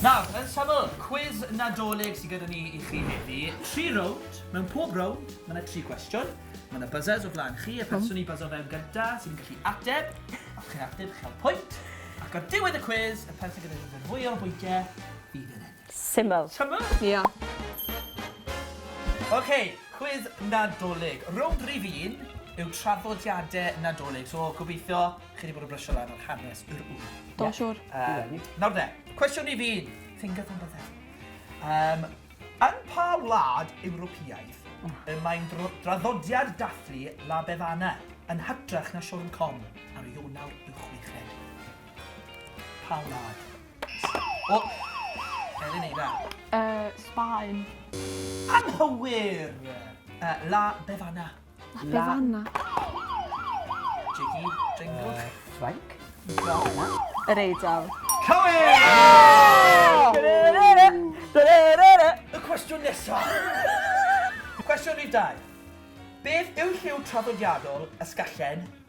Nawr, yn syml, cwis Nadolig sydd gyda ni i chi heddi. Tri rownd, mewn pob rownd, mae yna tri gwestiwn. Mae yna buzzers o flaen chi, y person i buzzer fewn gyda sydd yn gallu ateb. Os chi'n ateb, chi'n cael pwynt. Ac ar diwedd y cwis, y person gyda nifer fwyaf o bwyntiau fydd yn ennill. Syml. Syml? Ia. Ok, cwis Nadolig. Rownd rhif un yw traddodiadau Nadolig, so gobeithio Chi wedi bod yn brysio lan o'r hanes yr ŵr. Do, siwr. Um, nawr de, cwestiwn i fi, think of something else. Um, yn pa wlad Ewropeaidd y mae'n draddodiad dathlu La Bevana yn hytrach na Siôn Com ar Ionawr y chweched. Pa wlad? O! Er yn eira. Uh, Sbaen. Anghywir! Uh, La Bevana. Na, be fanna? Jiggy, jingle. Ffrainc. Yr eidl. Cywir! Y cwestiwn nesaf. Cwestiwn rhif dau. Beth yw lliw traddodiadol Ysgallen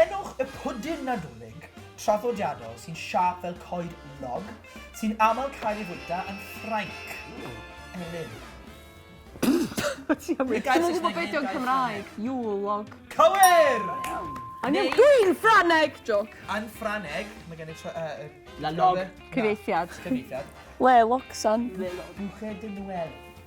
Enwch y pwdin Nadolig traddodiadol sy'n siâp fel coed log, sy'n aml cael ei fwyta yn Ffrainc. Elin. Dwi'm yn gwybod be' 'di o'n Cymraeg. Yule log. Cywir! Angen gwin Ffrangeg! Jôc. Yn Ffrangeg, mae gen i tro- yy yy... La log. Cyfieithiad. Cyfieithiad. Le logsan. Le log. Bouche de Noël.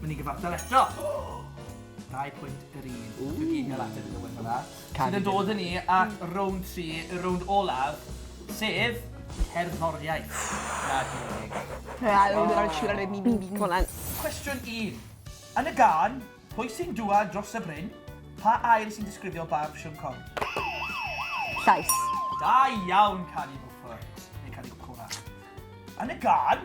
Myn' i gyfartal eto. Dau pwynt yr un. Ww. Dwi 'di inio'r ateb iddo fe fela. Sydd yn dod â ni at rownd tri, y rownd olaf, sef cerddoriaeth. Na, dim yn deg. Na, o'n i ddim yn siŵr ar y mi mi mi mi. Cwestiwn un. Yn y gân, Pwy sy'n dwad dros y bryn? pa air sy'n disgrifio barf Siôn Corn? Llais. Da iawn, Cari Bwfwrt. Neu Cari Bwcwra. Yn y gân,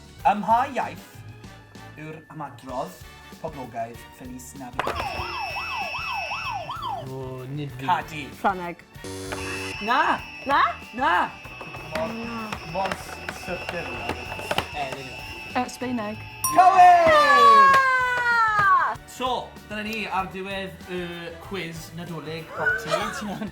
Ym mha iaith yw'r ymadrodd poblogaidd Feliz Navidad? O, nid fi. Cadi. Ffrangeg. Na! Na? Na! Mor sydyn yw e. Yy, ddim yn gwybod. Yy, Sbaeneg. Cywir! So, dyna ni ar ddiwedd y cwis Nadolig Pop Tee.